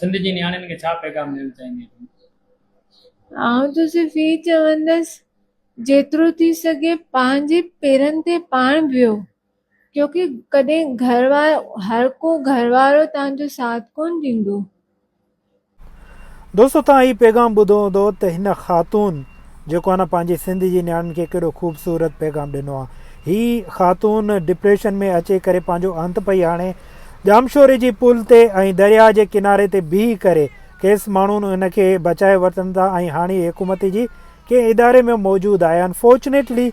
سنڌ جي نياڻين کي ڇا پيغام ڏيڻ چاهيندين تون؟ آئون ته صرف هي چوندس جيترو ٿي سگهي پنهنجي پيرن تي پاڻ بيهو ڪيونڪه ڪڏهن گهر وارو هر ڪو گهر وارو توهان جو ساٿ ڪونه ڏيندو. دوستو توهان هي پيغام ٻڌو هوندو ته هن خاتون جيڪو آهي نه پنهنجي سنڌ جي نياڻين کي ڪهڙو خوبصورت پيغام ڏنو آهي. هي خاتون ڊپريشن ۾ اچي ڪري پنهنجو انت پئي آڻي ڄامشوري جي پل تي ۽ درياء جي ڪناري تي بيهي ڪري کيس ماڻهن ان کي بچائي ورتن ٿا ۽ هاڻي هي حڪومت جي ڪنهن اداري ۾ موجود آهي انفارچونيٽلي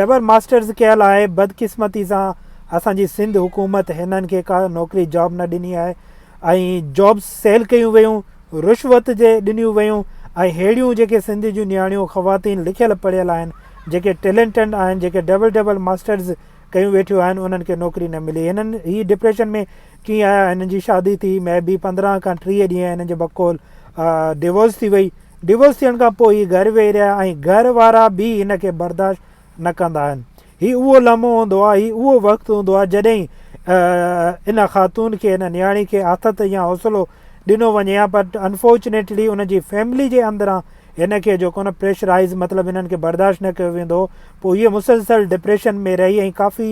ڊبل ماسٽرز ڪيل آهي بدقسمتي سان اسان جي سنڌ حڪومت هنن کي ڪا نوڪري جاب نه ڏني آهي ۽ جابس سيل ڪيون ويون رشوت جي ڏنيون ويون ۽ ههڙيون جيڪي سنڌ جون نياڻيون خواتين لکيل پڙهيل آهن جيڪي ٽيلنٽنڊ آهن جيڪي ڊبل ڊبل ماسٽرز ڪيون ويٺيون آهن انهن کي نوڪري نه ملي هنن هي ڊپريشن ۾ ڪيئن آيا هنن جي شادي ٿي مي بي پندرهن کان ٽيهه ڏينهن هنن جي بقول ڊيورس ٿي وئي ڊيورس ٿيڻ کان پوء هي گهر ويهي رهيا ۽ گهر وارا به هن کي برداشت نه ڪندا آهن هي اهو لمحو هوندو آهي هي اهو وقت هوندو آهي جڏهن ان خاتون کي ان نياڻي کي آٿت يا حوصلو ڏنو وڃي ها پر انفارچونيٽلي ان جي فيملي جي اندران هن کي جيڪو نه پريشرائيز مطلب انهن کي برداشت نه ڪيو ويندو هو پوء هيء مسلسل ڊپريشن ۾ رهي ۽ ڪافي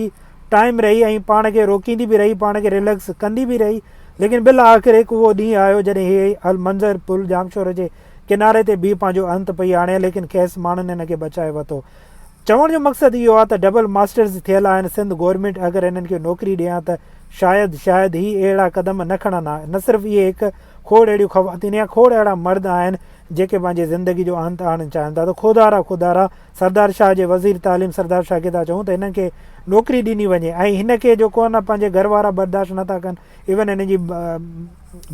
ٽائيم رهي ۽ پاڻ کي روڪيندي به رهي پاڻ کي ريليڪس ڪندي به رهي ليڪن بالآخر هڪ اهو ڏينهن آيو جڏهن هيء المنظر پل ڄامشوري جي ڪناري تي بيهي پنهنجو انت پئي آڻي ها ليڪن کيس ماڻهن هن کي بچائي وتو چوڻ جو مقصد اهو آ ته ڊبل ماسٽرز ٿيل آهن سنڌ گورنمينٽ اگر انهن کي نوڪري ڏي ها ته شايد شايد هي اهڙا قدم نه کڻن ها نه صرف اهي هڪ کوڙ اهڙيون خواتين يا کوڙ اهڙا مرد آهن جيڪي پنهنجي زندگي جو انت آڻڻ چاهن ٿا ته خودارا خودارا سردار شاهه جي وزير تعليم سردار شاهه کي ٿا چئون ته هنن کي نوڪري ڏني وڃي ۽ هن کي جو ڪو نه پنهنجي گهر وارا برداشت نه ٿا ڪن ايون هنن جي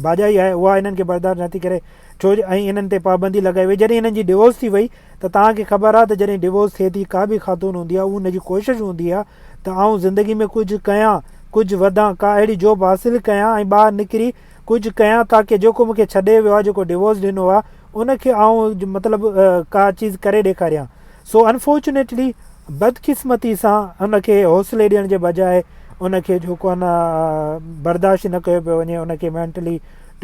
ڀاڄائي آهي اها هنن کي برداشت نه ٿي ڪري ڇو ۽ هنن تي پابندي لڳائي وئي جڏهن هنن جي ڊوورس ٿي وئي ته توهان کي خبر آهي ته جڏهن ڊوورس ٿئي ٿي ڪا به خاتون هوندي آهي ان جي ڪوشش هوندي آهي ته آئون زندگي ۾ ڪجهه ڪيان ڪجهه وڌان ڪا اهڙي جوب حاصل ڪيان ۽ ٻاهر نڪري ڪجهه ڪيان تاڪه جيڪو مونکي ڇڏي ويو آهي جيڪو ڊوورس ڏنو آهي ان کي آئون مطلب ڪا چيز ڪري ڏيکاريان سو انفارچونيٽلي بدقسمتي سان ان کي حوصلي ڏيڻ جي بجاء ان کي جيڪو آهي نه برداشت نه ڪيو پيو وڃي ان کي مينٽلي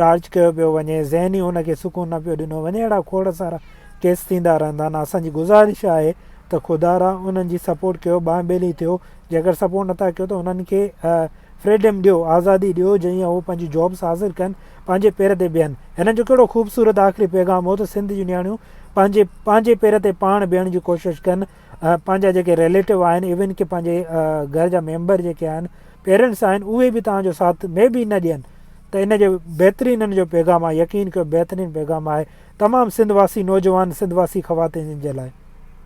ٽارچ ڪيو پيو وڃي ذهني ان کي سڪون نه پيو ڏنو وڃي اهڙا کوڙ سارا ڪيس ٿيندا رهندا آهن اسان جي گذارش آهي ته خدا را انهن جي سپورٽ ڪيو ٻانهن ٻيلي ٿيو جيڪر سپورٽ نٿا ڪيو ته انهن کي فريڊم ڏيو آزادي ڏيو جئين هو پنهنجي جابس حاصل ڪن پنهنجي پير تي بيهن هنن جو ڪهڙو خوبصورت آخري پيغام هو ته سنڌ جون نياڻيون پنهنجي پنهنجي پير تي پاڻ بيهڻ جي ڪوشش ڪن پنهنجا جيڪي ريليٽو آهن ايون ڪي پنهنجي گهر جا ميمبر جيڪي آهن پيرنٽس آهن اهي به توهان جو ساٿ مي بي نه ڏين ته ان جو بهترين ان جو پيغام آهي يقين ڪيو بهترين پيغام آهي تمام سنڌ واسي نوجوان سنڌ واسي خواتين جن جي لاء